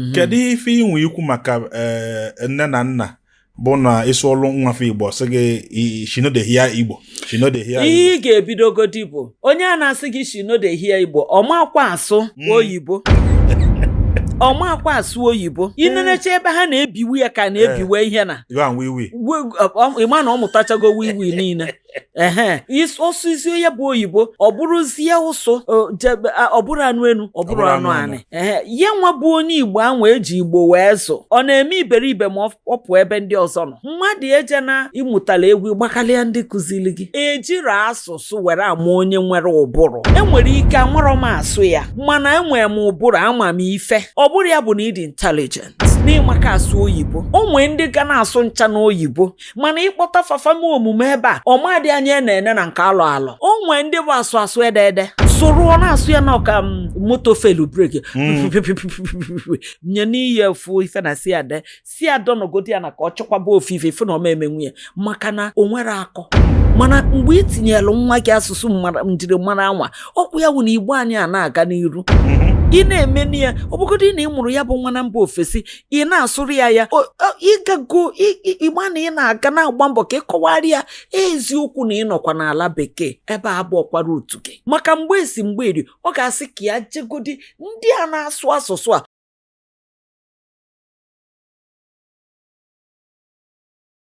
mhm. kedu ife inwe ikwu maka eh, nne na nna bụ na ị sụọlụ nwa fa igbo sị gị she no dey hear igbo she no dey hear igbo ihe ị ga-ebidogodi bụ onye a na-asị gị she no dey hear igbo ọ makwa asụ hmm. oyibo ọ makwa asụ oyibo hmm. i nenecha ebe ha na-ebiwe ya ka na-ebiwe eh. ihe na ị ma na ọ mụtachago wiwi niile ehe is- ọ sụzie ya bụ oyibo ọ bụrụzie ụsụ o, jebe- a- ọ bụrọ anụ enu ọ bụrọ anụ anị ehe ya nwa bụ onye igbo ahụ eji igbo wee zụ ọ na-eme iberibe ma ọ ọ pụọ ebe ndị ọzọ nọ mmadụ eje na ịmụtala egwu gbakalịa ndị kụzili gị ejirọ asụsụ were ama onye nwere ụbụrụ e nwere ike amarọ m asụ ya mana enwere m ụbụrụ ama m ife ọ bụrọ ya bụ na ị dị intelligent na ị maka asụ oyibo o nwee ndị ga na-asụ ncha n'oyibo mana ị kpọta fa fa mee omume ebe a ọ ma dị anya e na-ene na nke alụ alụ o nwee ndị bụ asụ asụ ede ede sụrụọ na-asụ ya na ọka m, moto failụ brake Mm. nye n'iyi efu ife na si ade si adọnọgodi ya na ka ọ chọkwaba ofufe ife na ọ ma emenwu ya maka na o nwerọ akọ mana mgbe ị tinyelụ nwa gị asụsụ mmara- njirimara anwa ọkwụ ya wụ na igbo anyị a na-aga n'iru ị na-eme na ya ọ bụgodị na ị mụrụ ya bụ nwa na mba ofesi ị na-asụrụ ya ya ịgago ịgba na ị na-aga na-agba mbọ ka ị kọwara ya eziokwu na ị nọkwa n'ala bekee ebe a abụọkwara otu gị maka mgbe esi mgbe eri ọ ga-asị ka ya jegodi ndị a na-asụ asụsụ a